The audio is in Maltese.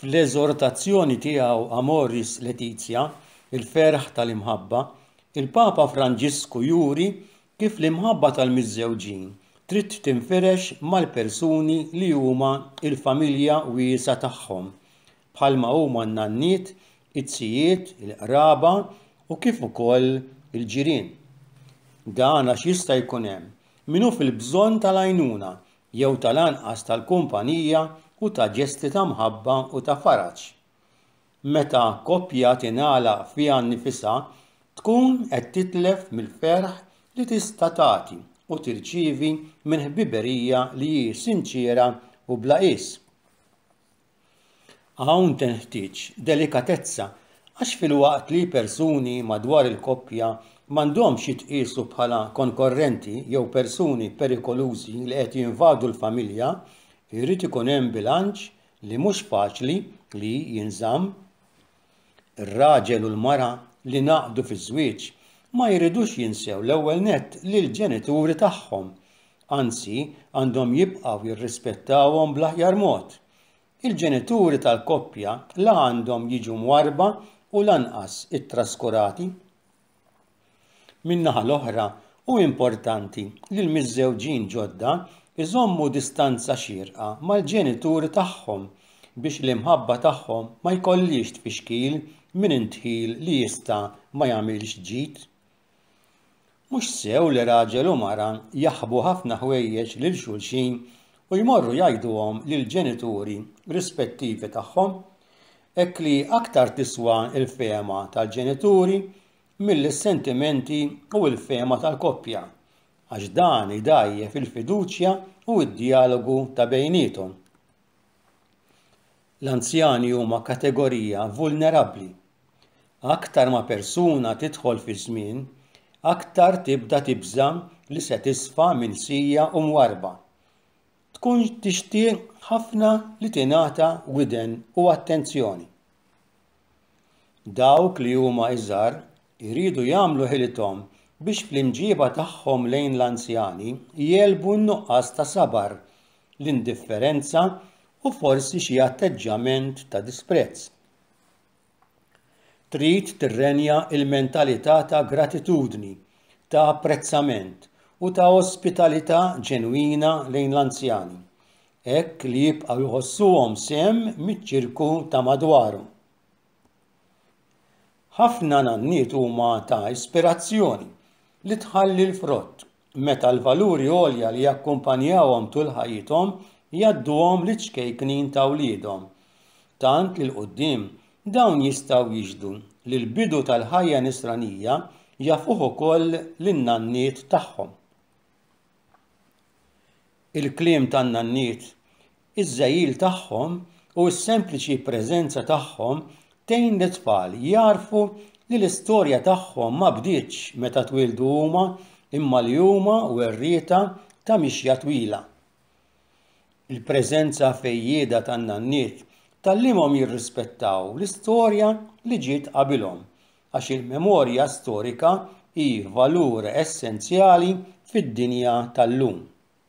Fl-eżortazzjoni tiegħu Amoris Laetitia, il-ferħ tal-imħabba, il-Papa Franġisku juri kif l-imħabba tal-miżżewġin trid tinfirex mal-persuni li huma l-familja wiesgħa tagħhom, bħalma huma n-nanniet, iz-zijiet, il-qraba u kif ukoll il-ġirien. Dan għax jista' jkun hemm min hu fil-bżonn tal-għajnuna jew tal-anqas tal-kumpanija u ta' ġesti ta' mħabba u ta' faraġ. Meta koppja tingħalaq fiha nnifisha, tkun qed titlef mill-ferħ li tista' tagħti u tirċievi minn ħbiberija li hi sinċiera u bla qies. Hawn tenħtieġ delikatezza għax filwaqt li persuni madwar il-koppja m'għandhomx jitqiesu bħala konkorrenti jew persuni perikolużi li qed jinvadu l-familja, irid ikun hemm bilanċ li mhux faċli li jinżamm. Ir-raġel u l-mara li ngħaqdu fiż-żwieġ ma jridux jinsew l-ewwel nett lill-ġenituri tagħhom, anzi għandhom jibqgħu jirrispettawhom bl-aħjar mod. Il-ġenituri tal-koppja la għandhom jiġu mwarrba u lanqas ittraskurati. Min-naħa l-oħra, hu importanti li l-miżżewġin ġodda jżommu distanza xierqa mal-ġenituri tagħhom biex l-imħabba tagħhom ma jkollhiex tfixkil minn indħil li jista' ma jagħmilx ġid. Mhux sew li raġel u mara jaħbu ħafna ħwejjeġ lil xulxin u jmorru jgħiduhom lill-ġenituri rispettivi tagħhom hekk li aktar tiswa l-fehma tal-ġenituri milli s-sentimenti u l-fehma tal-koppja, għax dan idgħajjef il-fiduċja u d-djalogu ta' bejniethom. L-anzjani huma kategorija vulnerabbli. Aktar ma persuna tidħol fiż-żmien, aktar tibda tibża' li se tisfa' milsija u mwarrba. tkun tixtieq ħafna li tingħata widen u attenzjoni. Dawk li huma iżgħar iridu jagħmlu ħilithom biex fl-imġieba tagħhom lejn l-anzjani jegħlbu n-nuqqas ta' sabar, l-indifferenza u forsi xi atteġġjament ta' disprezz. Trid tirrenja l-mentalità ta' gratitudni, ta' apprezzament u ta' ospitalità ġenwina lejn l-anzjani, hekk li jibqgħu jħossuhom sehem miċ-ċirku ta' madwarhom. Ħafna nanniet huma ta' ispirazzjoni li tħalli l-frott meta l-valuri għolja li jakkumpanjawhom tul ħajjithom jgħadduhom liċ-ċkejknin ta' wliedhom. Tant li 'l quddiem dawn jistgħu jixhdu li l-bidu tal-ħajja Nisranija jafuh ukoll lin-nanniet tagħhom. Il-kliem tan-nanniet Iż-żegħil tagħhom u s-sempliċi preżenza tagħhom tgħin lit-tfal jagħrfu li l-istorja tagħhom ma bdietx meta twieldu huma imma li huma werrieta ta' mixja twila. Il-preżenza fejjieda tan-nanniet tgħallimhom jirrispettaw l-istorja li ġiet qabilhom għax il-memorja storika hi valur essenzjali fid-dinja tal-lum.